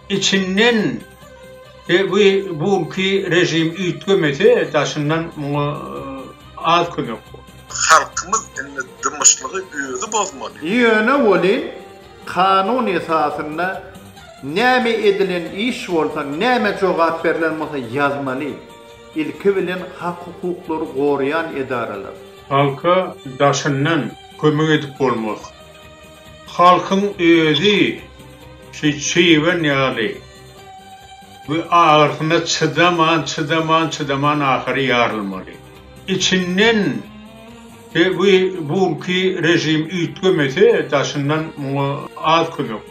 Içinden we bu bulky rejim üýtgemese daşyndan muňa az kömek bor. Halkymyz indi dymyşlygy özi bozmaly. Ýöne welin kanun esasynda näme edilen iş bolsa, näme jogap berlen bolsa ýazmaly. Ilki bilen hak-hukuklary goraýan edaralar. Halka daşyndan kömek edip bolmaz. Halkyň özi şu çybyn ýaly we agyrsyna çydaman, çydaman, çydaman ahyry ýarylmaly. Içinden we bu günki režim üýtgemese daşyndan muňa az kömek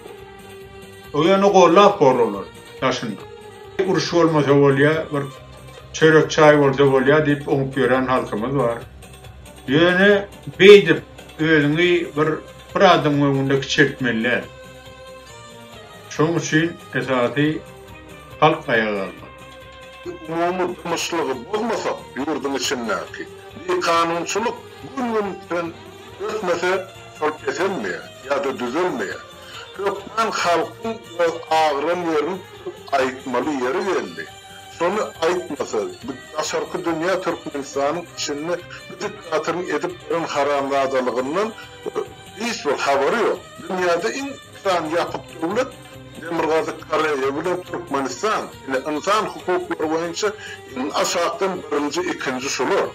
bor. Ýöne gollap bor olary. daşynda. Uruş bolmasa bolýa, bir çörek çaý bolsa bolýa diýip oňup ýören halkymyz bar. Ýöne beýdip özüňi bir bir adam öňünde kiçeltmeli däl. Şoň üçin esasy halk aýaga galmaly. Umumy dymyşlygy bozmasak ýurduň içindäki bikanunçylyk gün-gün ösmese şol peselmeýär ýa-da düzelmeýär. Hökman halkyň biraz agyran ýerini tutup aýtmaly ýeri geldi. Şony aýtmasa, daşarky dünýä Türkmenistanyň içinde bu diktatoryň edip beren haramzadalygyndan hiç bir habary ýok. Dünýäde iň iki sany ýapyk döwlet, Demirgazyk Koreýa bilen Türkmenistan, ine, ynsan hukuklary boýunça iň aşakdan birinji, ikinji şular.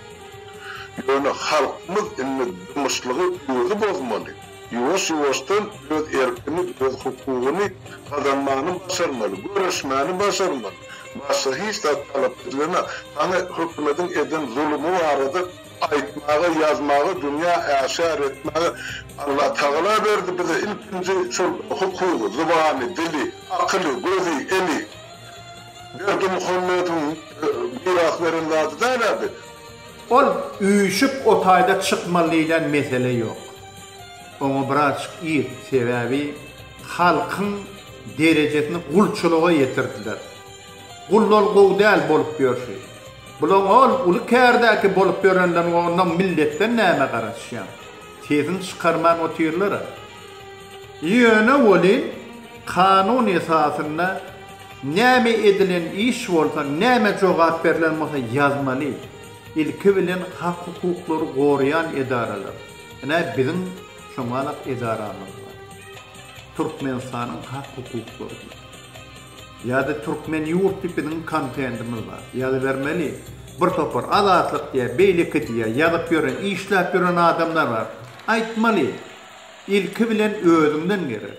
Ýöne halkymyz indi dymyşlygy özi bozmaly. Ýuwaş-ýuwaşdan öz erkini, öz hukugyny gazanmany başarmaly, göreşmäni başarmaly. Başga hiç zat talap edilene, hany hökümediň eden zulumy barada aýtmaga, ýazmaga, dünýä äşär etmäge Allatagala berdi bize ilkinji şol hukugy, zybany, dili, akyly, gözi, eli. Berdimuhamedowyň miras beren zady däl-ä biz. Ol üýşüp o taýda çykmaly diýlen mesele ýok. Oňa birazjyk ir, sebäbi halkyň derejesini gulçulyga ýetirdiler. Gullar gowy däl bolup ýörşi. Bulaň ol uly kärdäki bolup ýörenleriň onda milletden näme garaşýaň. Sesini çykarman otyrlar-a. Ýöne welin kanun esasynda Näme edilen iş bolsa, näme jogap berlen bolsa ýazmaly. Ilki bilen hak hukuklary goraýan edaralar. Ine biziň şoňalak edaramyz bar. Türkmenistanyň hak hukuklary diýip. Ýa-da türkmen ýurt diýip biziň kontentimiz bar. Ýazybermeli. Bir topar azatlyk diýýär, beýleki diýýär, ýazyp ýören, işläp ýören adamlar bar. Aýtmaly. Ilki bilen özüňden gerek.